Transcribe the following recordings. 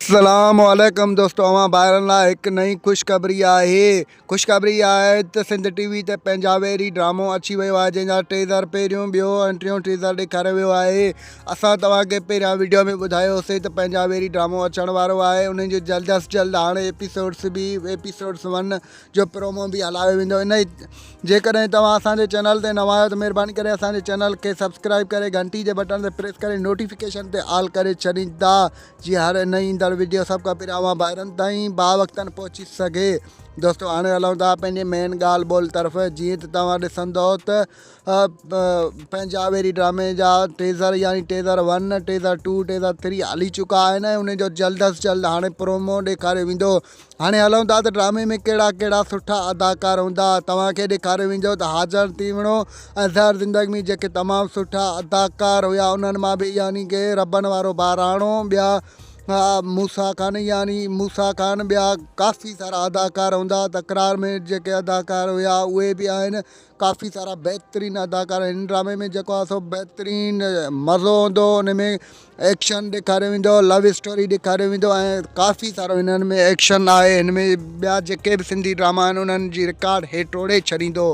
اسلام عليڪم دوستو اوهان ڀائرن لاء هڪ نئين خوشخبري آهي خوشخبري اها آهي ته سنڌ ٽي وي تي پنهنجا ويري ڊرامو اچي ويو آهي جنهن جا ٽيزر پهريون ٻيو ۽ ٽيون ٽيزر ڏيکاريو ويو آهي اسان توهان کي پهريان ويڊيو ۾ ٻڌايو سي ته پنهنجا ويري ڊرامو اچڻ وارو آهي انهن جو جلد از جلد هاڻي ايپيسوڊس به ايپيسوڊس ون جو پرومو به هلايو ويندو ان جيڪڏهن توهان اسان جي چينل تي نوان آهيو ته مهرباني ڪري اسان جي چينل کي سبسڪرائب ڪري گهنٽي جي بٽڻ تي پريس ڪري نوٽيفڪيشن تي آل ڪري ڇڏيندا جي هاڻي نه ايندڙ وڊيو سڀ کان پهريان اوهان ڀائرن تائين با وقتن پهچي سگهي دوستو هاڻي هلون ٿا پنهنجي مين ڳالهه ٻولهه طرف جيئن ته توهان ڏسندو ته پنهنجا ويري ڊرامي جا ٽيزر يعني teaser one teaser two teaser three هلي چڪا آهن ۽ ان جو جلد از جلد هاڻي پرومو ڏيکاريو ويندو هاڻي هلون ٿا ته ڊرامي ۾ ڪهڙا ڪهڙا سٺا اداڪار هوندا. توهان کي ڏيکاريو ويندو ته حاجڻ تيوڻو ۽ زهر زندگي ۾ جيڪي تمام سٺا اداڪار هيا انهن مان به يعني ڪي ربن وارو ٻهراڻو ٻيا موسيٰ خان يعني موسيٰ خان ٻيا ڪافي سارا اداڪار هوندا تڪرار ۾ جيڪي اداڪار هيا اهي به آهن ڪافي سارا بهترين اداڪار هن ڊرامي ۾ جيڪو آ سو بهترين مزو هوندو ان ۾ ايڪشن ڏيکاريو ويندو لو اسٽوري ڏيکاريو ويندو ۽ ڪافي سارو هنن ۾ ايڪشن آهي هن ۾ ٻيا جيڪي به سنڌي ڊراما آهن انهن جي رڪارڊ هي ٽوڙي ڇڏيندو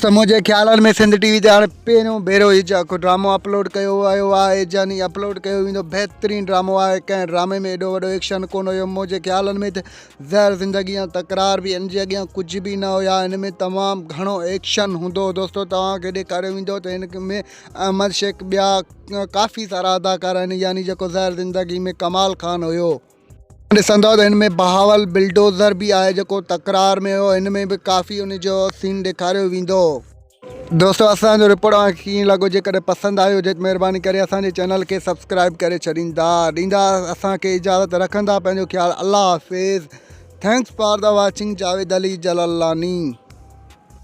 ته منهنجي خيالن ۾ سنڌ ٽي وي تي هاڻي پهريون ڀيرو هي جيڪو ڊرامو اپلوڊ ڪيو ويو آهي جاني اپلوڊ ڪيو ويندو بهترين ڊرامو آهي ڪنهن ڊرامي ۾ ايڏو وڏو ايڪشن ڪون هيو منهنجي خيالن ۾ ته زهر زندگي ۽ تڪرار به ان جي اڳيان ڪجهه به نه هيا ان ۾ تمام گهڻو ايڪشن هوندو هو دوستو توهان کي ڏيکاريو ويندو ته هن ۾ احمد شيخ ٻيا ڪافي سارا اداڪار آهن يعني جيڪو زهر زندگي ۾ ڪمال خان هيو ڏسندو ته هن ۾ بهاول بلڊوزر به آهي جيڪو تڪرار ۾ هيو هن ۾ به ڪافي ان جو سين ڏيکاريو ويندو هو. دوستو اسان جو رپورٽ اوهان کي ڪيئن لڳو جيڪڏهن پسند آيو هجي ته مهرباني ڪري اسان جي چينل کي سبسڪرائب ڪري ڇڏيندا ڏيندا اسان کي اجازت رکندا پنهنجو خيال الله حافظ thanks for the watching Javed Ali Jalalani